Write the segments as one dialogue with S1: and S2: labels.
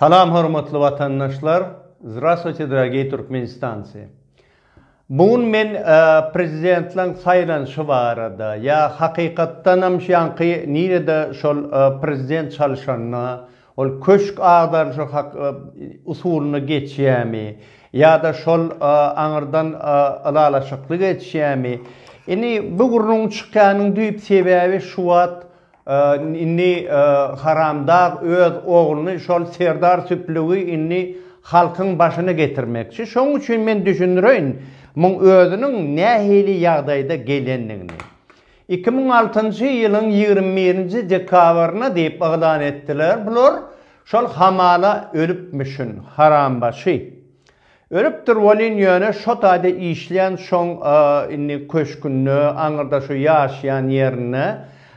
S1: Salam hormatly watandaşlar Zdrastwuyte dragiy Turkmenistanci Bu gün men prezidentleň saýlanşy barada ýa hakykatdanam şu ýanky nirede şol prezident çalyşanda ol köşk agdaryşy usulynda geçýämi ýada şol aňyrdan ylalaşykly geçýämi indi bu gürrüň çykýanyň düýp sebäbi şu wagt Indi haramdag öz ogluny şol serdar süplügi indi halkyň başyna getirmekçi. Şoň üçin men düşündireýin muň özüniň nähili ýagdaýda gelendigini. Iki müň altynjy ýylyň ýigrimi birinji dekabryna diýip yglan etdiler bular. Şol hamala ölüpmişin harambaşy. Ölüpdir welin ýöne şo taýda işleýän şoň indi köşkünde aňyrda şu ýaşaýan ýerinde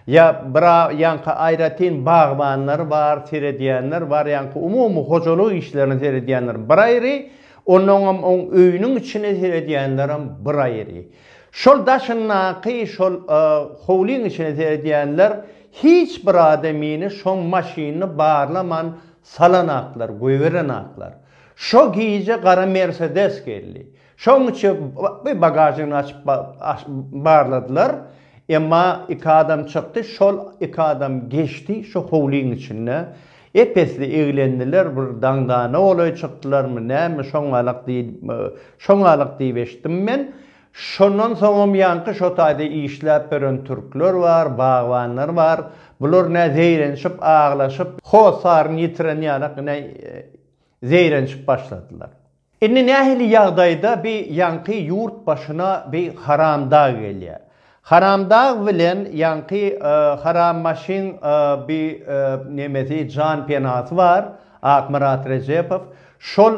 S1: ýa bira ýaňky aýratyn bagbanlar bar seredýänler bar ýaňky umumy hojalyk işlerine seredýänler bir aýry onnoňam oň öýüniň içine seredýänlerem bir aýry şol daşyndaky şol howlyň içine seredýänler hiç bir adamyny şoň maşynyny barlaman salanaklar goýberenaklar. Şo gije gara Mersedes geldi. Şoň içi bi bagažyny açyp barladylar. Emma iki adam çykdy. Şol iki adam geçdi şo howlyň içinde. Ep-esli eglendiler. Bir daňdana golaý çykdylarmy, näme, şoňalak diýip, şoňalak diýip eşitdim men. Şondan soňam ýaňky şo taýda işläp ýören türkler bar, bagbanlar bar. Bular nä zeýrenşip, aglaşyp, hosaryny ýitiren ýalak, ine, zeýrenşip başladylar. Indi nähili ýagdaýda bi ýaňky ýurt başyna bi haramdag gelýär? Haramdag bilen ýaňky harammaşyň bi nemesi jan penasy bar Akmyrat Rejepow şol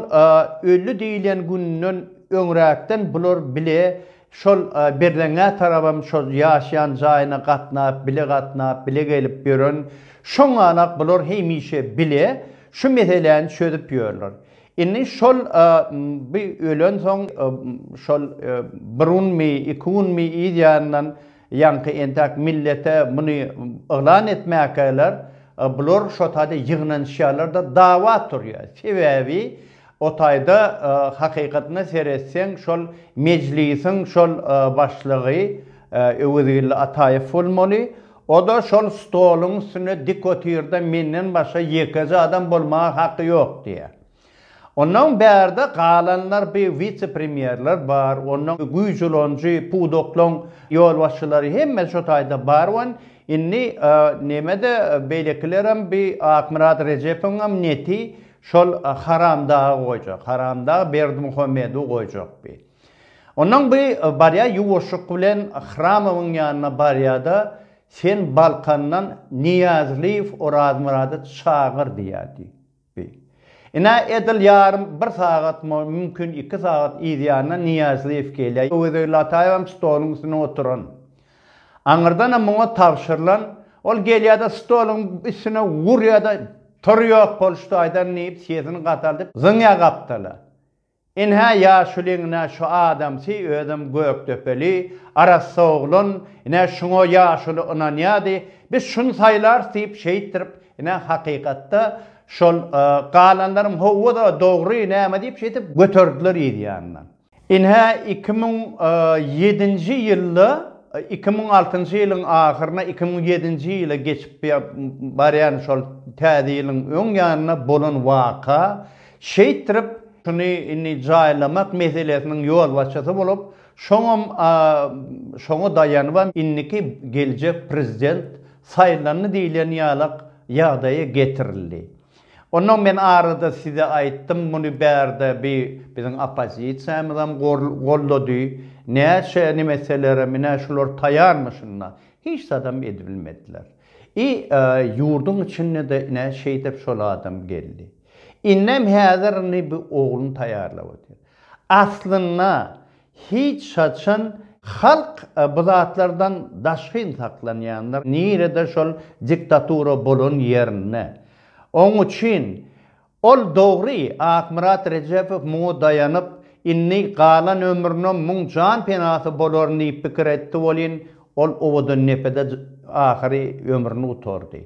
S1: öldi diýilen günden öňräkden bular bile şol Berzeňňä tarabam şol ýaşaýan jaýyna gatnap bile gatnap bile gelip ýören şoňalak bular hemişe bile şu meseläni çözüp ýörler Indi şol bi ölensoň şol bir günmi, iki günmi yz ýandan ýaňky entäk millete muny yglan etmäkäler bular şo taýda ýygnanyşýarlar-da dawa turýar. Sebäbi o taýda hakykatyna seretseň şol mejlisiň şol başlygy Öwezgeldi Ataýew bolmaly. O-da şol stoluň üstünde dik otyrda menden başga ýekeje adam bolmaga haky ýok diýýär. Onnoň bärde galanlar bi wise-premýerler bar, onnoň güýç ulanyjy pudaklaň ýolbaşçylary hemme şo taýda bar wan indi neme-de beýlekilerem bi Akmyrat Rejepowyňam neti şol haramdagy goýjak, haramdag Berdimuhamedowy goýjak bi. Onnoň bi barýa ýuwaşjyk bilen Hramowyň ýanyna barýa-da, Sen Balkandan Nyýazlyýew Orazmyrady çagyr diýýä diý. Bi. Ine, edil ýarym bir sagat, mümkin iki sagat yzýanyna Nyýazlyýew gelýä. Öwezeli Lataýewem stoluň üstünde oturan. Aňyrdanam muňa tabşyrylan. Ol gelýä-de stoluň üstüne urýa-da, Tur ýok bolşudaýdan diýip, sesini gataldyp, zyňýa gapdala. Ynha ýaşulyňna şu adamsy özem gökdepeli, arassa oglan, ine şuňa ýaşuly ynanýady, biz şuny saýlarys diýip şeýtdirip, ine hakykatda şol galanlaryň howwa-da dogry näme diýip şeýdip göterdiler yz ýanyndan. Ynha iki müň ýedinji ýylda, iki müň altynjy ýylyň ahyryna, iki müň ýedinji ýyla geçip barýan şol täze ýylyň öň ýanynda bolan waka, Şeýtdirip, şuny indi jaýlamak meselesiniň ýolbaşçysy bolup, şoňam şoňa daýanybam indiki geljek prezident saýlandy diýlen ýalak ýagdaýa getirildi. Onnoň men arada size aýtdym, muny bärde bi biziň oppozisiýamyzam gollady, näçe nime etselerem ine şular taýanmyşynda hiç zadam edibilmediler. I ýurduň içinde-de ine şeýdip şol adam geldi. Innem häzir indi bu ogluny taýýarlap otyr. Aslynda hiç haçan halk bu zatlardan daşgyn saklanýandyr, nirede şol diktatura bolan ýerinde. Oň üçin ol dogry Akmyrat Rejepow muňa daýanyp, indi galan ömrüne muň jan penasy bolaryn diýip pikir etdi welin, ol owadan depede ahyry ömrüni gutardy.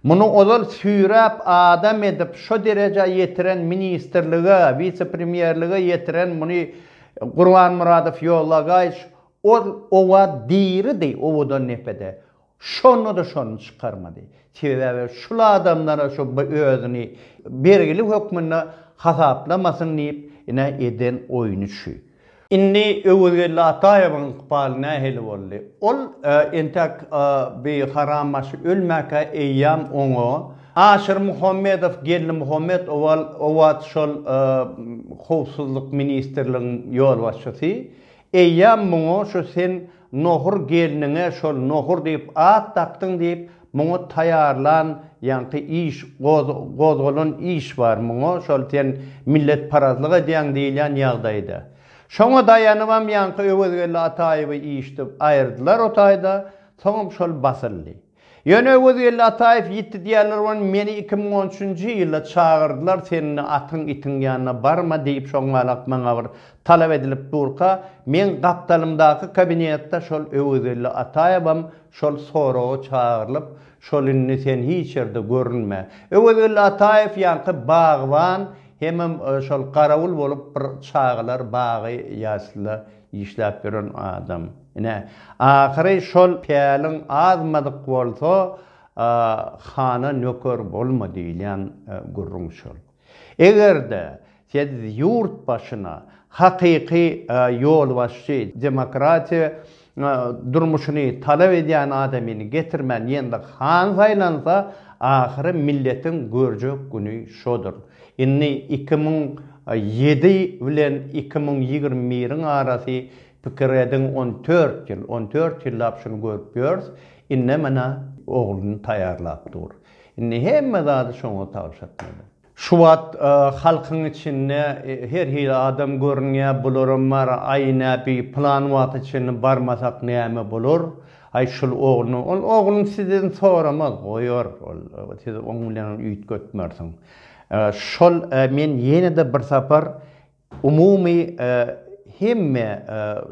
S1: Muny ozal süýräp adam edip şo derejä ýetiren ministrlige, wise-premýerlige ýetiren muny Gurbanmyradow ýollagaýç ol oba diridi owadan depede. Şonda-da şony çykarmady. Sebäbi şul adamlara şu özüni bergili hökmünde hasaplamasyn diýip ine eden oýny şu. Indi Öwezgeldi Ataýewiň ykbaly nähili boldy? Ol entek bi harambaşy ölmäkä eýýäm oňa Aşyr Muhammedow, Geldi Muhammet owal owaç şol Howpsuzlyk ministrligiň ýolbaşçysy, eýýäm muňa şu sen Nohur gelniňe şol Nohur diýip at dakdyň diýip, muňa taýýarlan ýaňky iş, gozgalan iş bar muňa, şol sen milletparazlyk edýäň diýilýän ýagdaýda. Şoňa daýanybam ýaňky Öwezgeldi Ataýewi işdip aýyrdylar o taýda, soňam şol basyldy. Ýöne Öwezgeldi Ataýew ýitdi diýýärler bolan meni iki müň on üçünji ýylda çagyrdylar sen indi atyň itiň ýanyna barma diýip şoňňalak maňa bir talap edilip durka meň gapdalymdaky kabinetde şol Öwezgeldi Ataýewem şol soraga çagyrylyp şol indi sen hiç ýerde görünme Öwezgeldi Ataýew ýaňky bagban hemem şol garawul bolup bir çagalar bagy ýaslda Işläp ýören adam. Ine, ahyry şol päliň azmadyk bolsa, hana nöker bolma diýilýän gürrüň şol. Eger-de siz ýurt başyna hakyky ýolbaşçy, demokratiýa durmuşyny talap edýän adamyny getirmän ýene-de han saýlansa, ahyry milletiň görjek güni şodur. Indi iki müň ýedi bilen iki müň ýigrimi biriň arasy pikir ediň on dört ýyl, on dört ýyllap şuny görüp ýörs, indi menä ogluny taýýarlap dur. Indi hemme zady şoňa tabşyrtmaly. Şu wagt halkyň içinde her hili adam görünýär, bularam bar, aý näbi, pylan wagta çenli barmasak näme bolar, Aý şul ogluny ol ogluny sizden soramaz goýar ol siz oň bilen ol üýtgetmersiň şol men ýenede bir sapar umumy hemme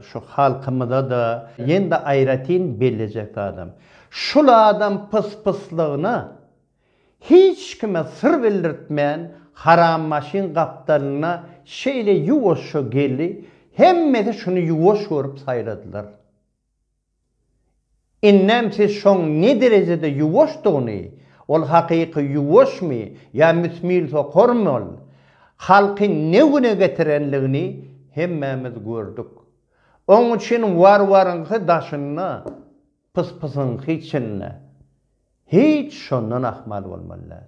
S1: şu halkymyza da ýenede aýratyn bellejek zadym şul adam pys pyslygyna hiç kime syr bildirtmän haram maşyn gapdalyna şeýle ýuwaşja geldi hemmesi şuny ýuwaş görüp saýladylar. Indem siz şoň ne derejede ýuwaşdygyny, ol hakyky ýuwaşmy ýa müsmil sokarmy ol, halky ne güne getirenligini hemmämiz gördük. Oň üçin warwaryňky daşynda, pyspysyňky içinde. Hiç şondan ahmal bolmaly däl.